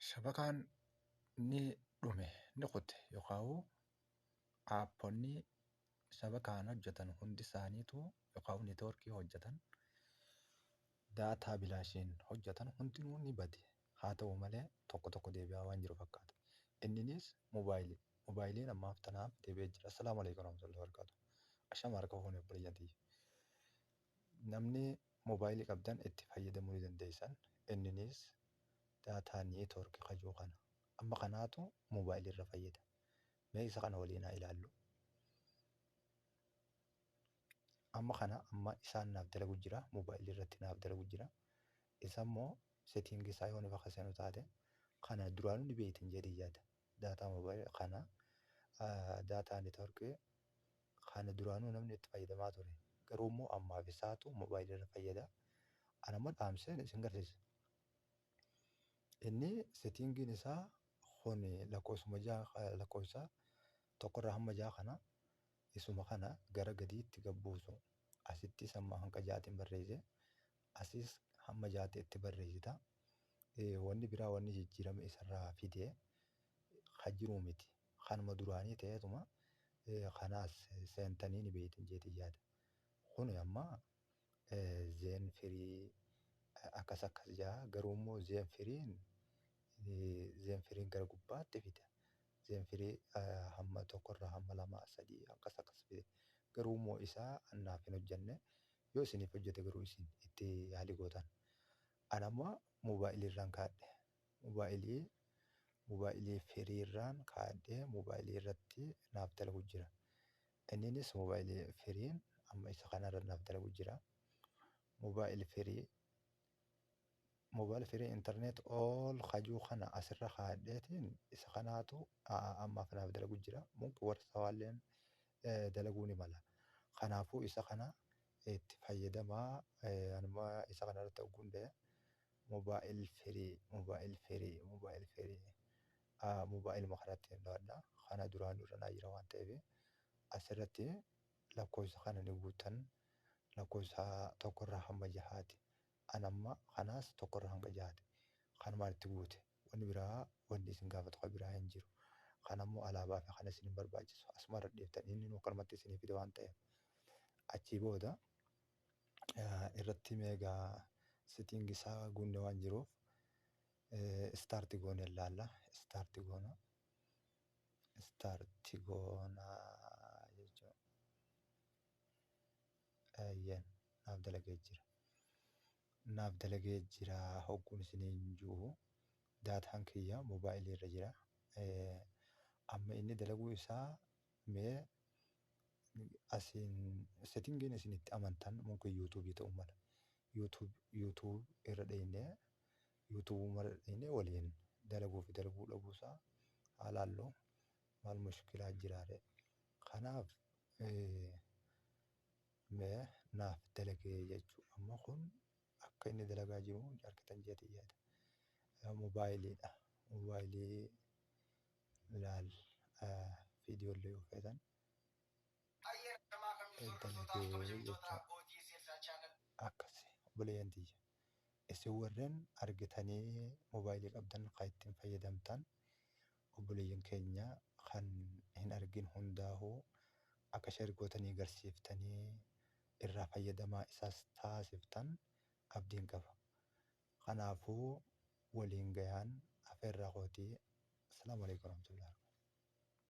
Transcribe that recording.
shabakaan ni dhume ni kute yookaan aapponni shabakaan hojjetan hundi isaaniitu yookaan neetwoorkii hojjetan daataa bilaashiin hojjetan hundinuu ni bade haa ta'u malee tokko tokko deebi'aa waan jiru fakkaata inninis moobaayilii moobaayiliin ammaaf tanaaf deebi'ee jira assalaamu alaikum warahmatullahi wabarakatuh ashama harka fuune obboleeyyan tiyya Namni mobile qabdan itti fayyadamu ni dandeessan inninis data network ka jiru kana amma kanaatu mobile irra fayyada mee isa kana waliin haa ilaallu amma kana amma isaan naaf dalagu jira mobile irratti naaf dalagu jira isa immoo setting isaa yoo nufa kasenu taate kana duraanu ni beeytan jedhee yaada data mobile kana data network Kana duraanuu namni itti fayyadamaa ture. Garuu immoo ammaaf isaatu mobile irra fayyada. Ana immoo dhaamseen isin garsiisa. Inni settingiin isaa kun lakkoofsuma ja'a lakkoofsa tokkorraa hamma ja'a kana isuma kana gara gadiitti gad buusu. Asittis amma hanga ja'aatiin barreesse. Asis hamma ja'aatti itti barreessita. Wanni biraa wanni jijjiirame isarraa fide kan jiru miti. Kanuma duraanii ta'eetuma kanaas seentanii ni beeytan jeetiin yaada. Kuni amma zeen firii akkas akkas jaa garuu immoo zeen firiin zeen firiin gara gubbaatti fida. Zeen firii hamma tokkorraa hamma lamaa sadii akkas akkas fide. Garuu immoo isaa annaaf hin hojjanne. Yoo isiniif hojjate garuu isin itti yaali gootan. An amma moobaayiliirraan kaadhe. Mobaayilii mobaayilii firii irraan kaayadhee mobaayilii irratti naaf dalagu jira. Inninis mobaayilii firiin amma isa kana irra naaf dalagu jira. Mobaayil firii mobaayil firii internet all kajuu kana asirra kaayadheetiin isa kanaatu ammaaf naaf dalagu jira. Mumkin warri sawaalleen dalaguu ni mala. Kanaafuu isa kana itti fayyadamaa anuma isa kana irratti ogguun dee Mobile free mobile free mobile free mobile ma kanatti hin dhowadha kana duraanu irra naa jira waan ta'eef as irratti lakkoofsa kana ni guuttan lakkoofsa tokko irraa hamma jahaati an amma kanaas tokko irraa hanga jahaati kanumaan itti guute wanni biraa wanni isin gaafatu ka biraa hin jiru kan ammoo alaabaa fi kana isin hin barbaachisu asuma irra dhiiftan inni nu kanumatti isinii fide waan ta'eef achii booda irratti meegaa sitting isaa guunne waan jiruuf start goone laalla start goona start goona jechuun ayyan naaf dalagee jira naaf dalagee jira hogguun isiniin jiru daataan kiyya moobaayilii irra jira amma inni dalaguu isaa Mee asiin settingiin isin itti amantan mungkin YouTube ta'uu mala. YouTube YouTube irra dheenyee YouTube irra dheenyee waliin dalaguu fi dalaguu dhabuu isaa haa laallu maal mushkilaa jiraare. Kanaaf mee naaf dalagee jechuu amma kun akka inni dalagaa jiru argitan jeeti yaada. Moobaayiliidha. Moobaayilii laal viidiyoo illee yoo feetan dalagee jechuudha. Akkasi obboleeyyan tiyya. Isin warreen argitanii moobaayilii qabdan kan ittiin fayyadamtan obboleeyyan keenya kan hin argin hundaahuu akka sheer gootanii garsiiftanii irraa fayyadamaa isaas taasiftan abdiin qaba. Kanaafuu waliin gayaan afeerraa kooti. Assalaamu Aleykum Warahmatullahi Wabarakaatuh.